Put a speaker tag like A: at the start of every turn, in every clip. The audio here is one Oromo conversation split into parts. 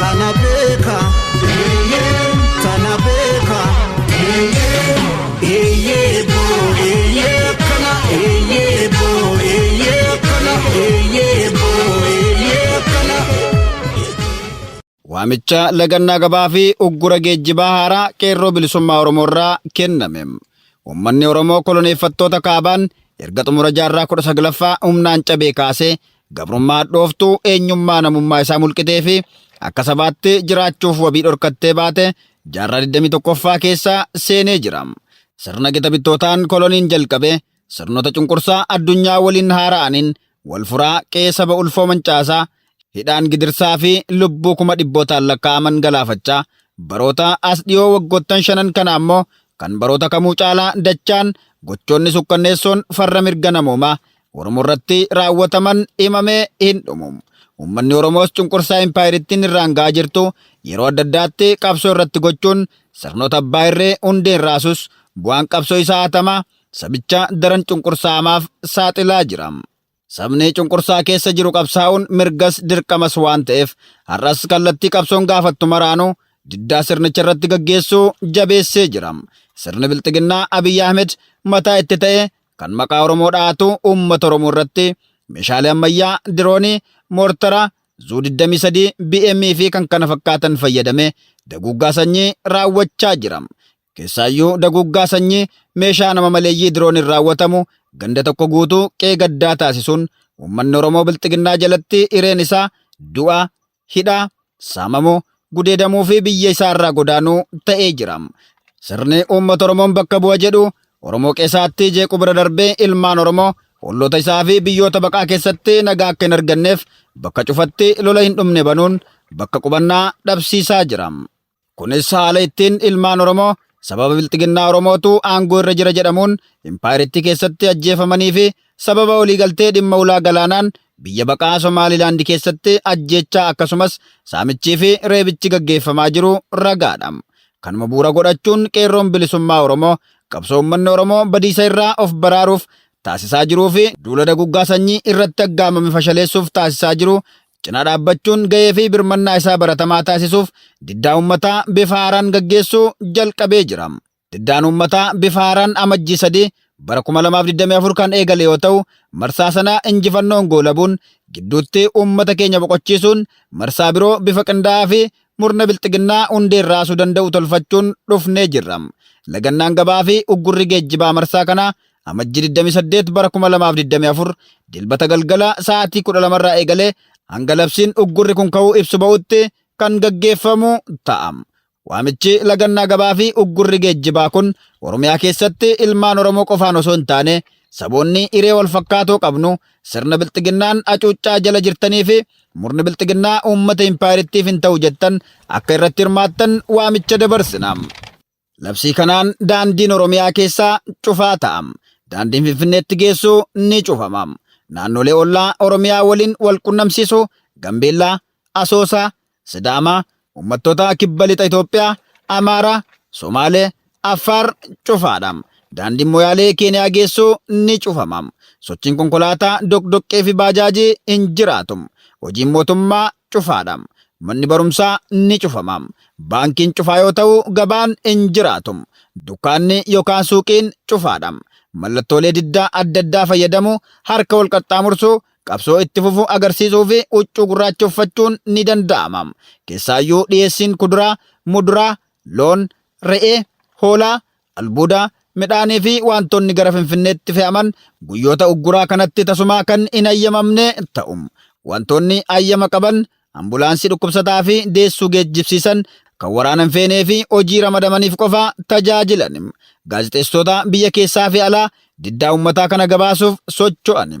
A: Tana beeka eeyyee tana beeka eeyyee eeyyee boo eeyyee kana eeyyee boo eeyyee kana
B: eeyyee boo eeyyee kana. Waamicha lagannaa gabaa fi uggura geejjibaa haaraa qeerroo bilisummaa Oromoo irraa kenname. Uummanni Oromoo koloneeffattoota kaabaan erga xumura jaarraa kudha saglaffaa humnaan cabee kaasee Gabrummaa hadhooftuu eenyummaa namummaa isaa mulqitee fi akka sabaatti jiraachuuf wabii dhorkattee baate jaarraa 21ffaa keessa seenee jira. Sirna gita bittootaan koloniin jalqabe sirnoota cunqursaa addunyaa waliin haara'aniin wal furaa qe'ee saba ulfoo mancaasaa, hidhaan gidirsaa fi lubbuu kuma dhibbootaan lakkaa'aman galaafachaa baroota as dhiyoo waggoottan shanan kana ammoo kan baroota kamuu caalaa dachaan gochoonni sukkanneessoon farra mirga namoomaa Oromoo irratti raawwataman himamee hin dhumu. Uummanni Oromoos cunqursaa impaayerittiin irraan ga'aa jirtu yeroo adda addaatti qabsoo irratti gochuun sirnoota abbaa irree hundeen raasus bu'aan qabsoo isaa hatamaa sabicha daran cunqursaa hamaaf saaxilaa jira. Sabni cunqursaa keessa jiru qabsaa'uun mirgas dirqamas waan ta'eef har'as kallattii qabsoon gaafattu maraanuu diddaa sirnicha irratti gaggeessuu jabeessee jira. Sirni Bilxiginnaa Abiy Ahmed mataa itti ta'ee kan maqaa Oromoo dhahatu uummata Oromoo irratti meeshaalee ammayyaa, diroonii, moortara, Zuu 23, BM fi kan kana fakkaatan fayyadamee daguuggaa sanyii raawwachaa jira. Keessaayyuu daguuggaa sanyii meeshaa nama maleeyyii dirooniin raawwatamu ganda tokko guutuu qe'ee gaddaa taasisuun uummanni Oromoo Bilxiginnaa jalatti hireen isaa du'a, hidhaa, saamamuu, gudeedamuu fi biyya isaa irraa godaanuu ta'ee jira. Sirni uummata Oromoon bakka bu'a jedhu Oromoo qeesaatti jeequu bira darbee ilmaan Oromoo olloota isaa fi biyyoota baqaa keessatti nagaa akka hin arganneef bakka cufatti lola hin dhumne banuun bakka qubannaa dhabsiisaa jira. Kunis haala ittiin ilmaan Oromoo sababa bilxiginnaa Oromootu aangoo irra jira jedhamuun impaayerittii keessatti ajjeefamanii fi sababa waliigaltee dhimma ulaa galaanaan biyya baqaa Somaalilaandi keessatti ajjeechaa akkasumas saamichii fi reebichi gaggeeffamaa jiru ragaadha. Kanuma bu'uura godhachuun Qeerroon Bilisummaa Oromoo qabsoo uummanni Oromoo badiisa irraa of baraaruuf taasisaa jiruu fi duula daguggaa sanyii irratti aggaamame fashaleessuuf taasisaa jiru cinaa dhaabbachuun gahee fi birmannaa isaa baratamaa taasisuuf diddaa uummataa bifa haaraan gaggeessuu jalqabee jira. Diddaan uummataa bifa haaraan Amajjii 3 bara 2024 kan eegale yoo ta'u, marsaa sana injifannoon goolabuun gidduutti uummata keenya boqochiisuun marsaa biroo bifa qindaa'aa fi murna bilxiginnaa hundeen raasuu danda'u tolfachuun dhufnee jirra. Lagannaan gabaa fi uggurri geejjibaa marsaa kanaa Amajjii 28 bara 2024 Dilbata galgala sa'aatii 12 irraa eegalee hanga labsiin uggurri kun ka'uu ibsu ba'utti kan gaggeeffamu ta'a. Waamichi lagannaa gabaa fi uggurri geejjibaa kun Oromiyaa keessatti ilmaan Oromoo qofaan osoo hin taane saboonni hiree wal fakkaatoo qabnu sirna bilxiginnaan acuuccaa jala jirtanii fi murni bilxiginnaa uummata impaayerittiif hin ta'u jettan akka irratti hirmaattan waamicha dabarsina. Labsii kanaan daandiin Oromiyaa keessaa cufaa ta'a. Daandiin Finfinneetti geessu ni cufama. Naannolee ollaa Oromiyaa waliin wal qunnamsiisu Gambeellaa, Asoosaa, Sidaamaa, uummattoota kibba lixa Itoophiyaa, Amaaraa, Somaalee, Affaar cufaadha. Daandiin Moyaalee Keeniyaa geessu ni cufama. Sochiin konkolaataa, doqdoqqee fi baajaajii hin jiraatu. Hojiin mootummaa cufaadha. Manni barumsaa ni cufama. Baankiin cufaa yoo ta'u gabaan hin jiraatu. Dukkaanni yokaan suuqiin cufaadha. Mallattoolee diddaa adda addaa fayyadamu, harka wal qaxxaamursu, qabsoo itti fufu agarsiisuu fi huccuu gurraacha uffachuun ni danda'ama. Keessaayyuu dhiyeessiin kuduraa, muduraa, loon, re'ee, hoolaa, Albuuda, midhaanii fi waantonni gara Finfinneetti fe'aman guyyoota ugguraa kanatti tasumaa kan hin hayyamamne ta'u. Wantoonni hayyama qaban, ambulaansii dhukkubsataa fi deessuu geejjibsiisan, kan waraana hin feenee fi hojii ramadamaniif qofa tajaajilan, gaazexeessitoota biyya keessaa fi alaa, Diddaa uummataa kana gabaasuuf socho'ani.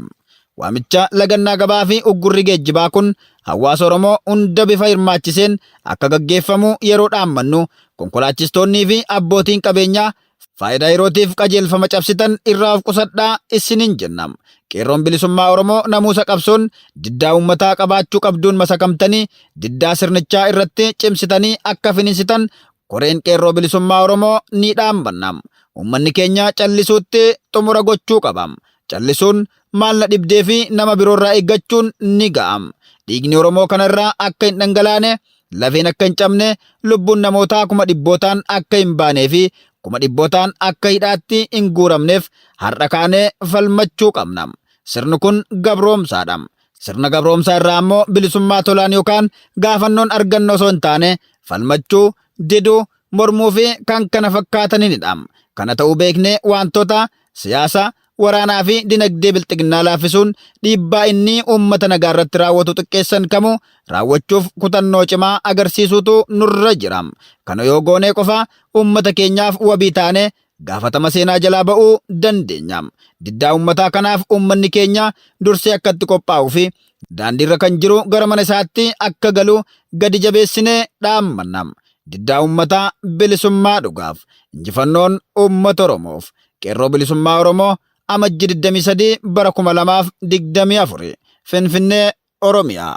B: Waamicha lagannaa gabaa fi uggurri geejjibaa kun hawaasa Oromoo hunda bifa hirmaachiseen akka gaggeeffamu yeroo dhaammannu konkolaachistoonnii fi abbootiin qabeenyaa faayidaa yerootiif qajeelfama cabsitan irraa of qusadhaa isiniin jenna. Qeerroon Bilisummaa Oromoo namuusa qabsoon diddaa uummataa qabaachuu qabduun masakamtanii diddaa sirnichaa irratti cimsitanii akka finiinsitan Koreen Qeerroo Bilisummaa Oromoo ni dhaambanna. Uummanni keenya callisuutti xumura gochuu qaba. Callisuun maal na dhibdee fi nama biroorraa eeggachuun ni ga'a. Dhiigni Oromoo kana irraa akka hin dhangalaane, lafeen akka hin cabne, lubbuun namootaa kuma dhibbootaan akka hin baanee fi kuma dhibbootaan akka hidhaatti hin guuramneef har'a kaanee falmachuu qabna. Sirni kun gabroomsaadha. Sirna gabroomsaa irraa ammoo bilisummaa tolaan yookaan gaafannoon arganna osoo hin taane falmachuu, diduu, mormuu fi kan kana fakkaatanidha. Kana ta'uu beeknee wantoota siyaasa, waraanaa fi dinagdee bilxiginnaa laaffisuun dhiibbaa inni uummata nagaa irratti raawwatu xiqqeessan kamuu raawwachuuf kutannoo cimaa agarsiisuutu nurra jira. Kana yoo goonee qofa uummata keenyaaf wabii taane gaafatama seenaa jalaa ba'uu dandeenya. Diddaa uummataa kanaaf uummanni keenya dursee akka itti qophaa'uu fi daandiirra kan jiru gara mana isaatti akka galu gadi jabeessinee dhaammanna. Diddaa uummataa bilisummaa dhugaaf! Injifannoon uummata Oromoof! Qeerroo Bilisummaa Oromoo, Amajji 23 bara 2024, Finfinnee, Oromiyaa.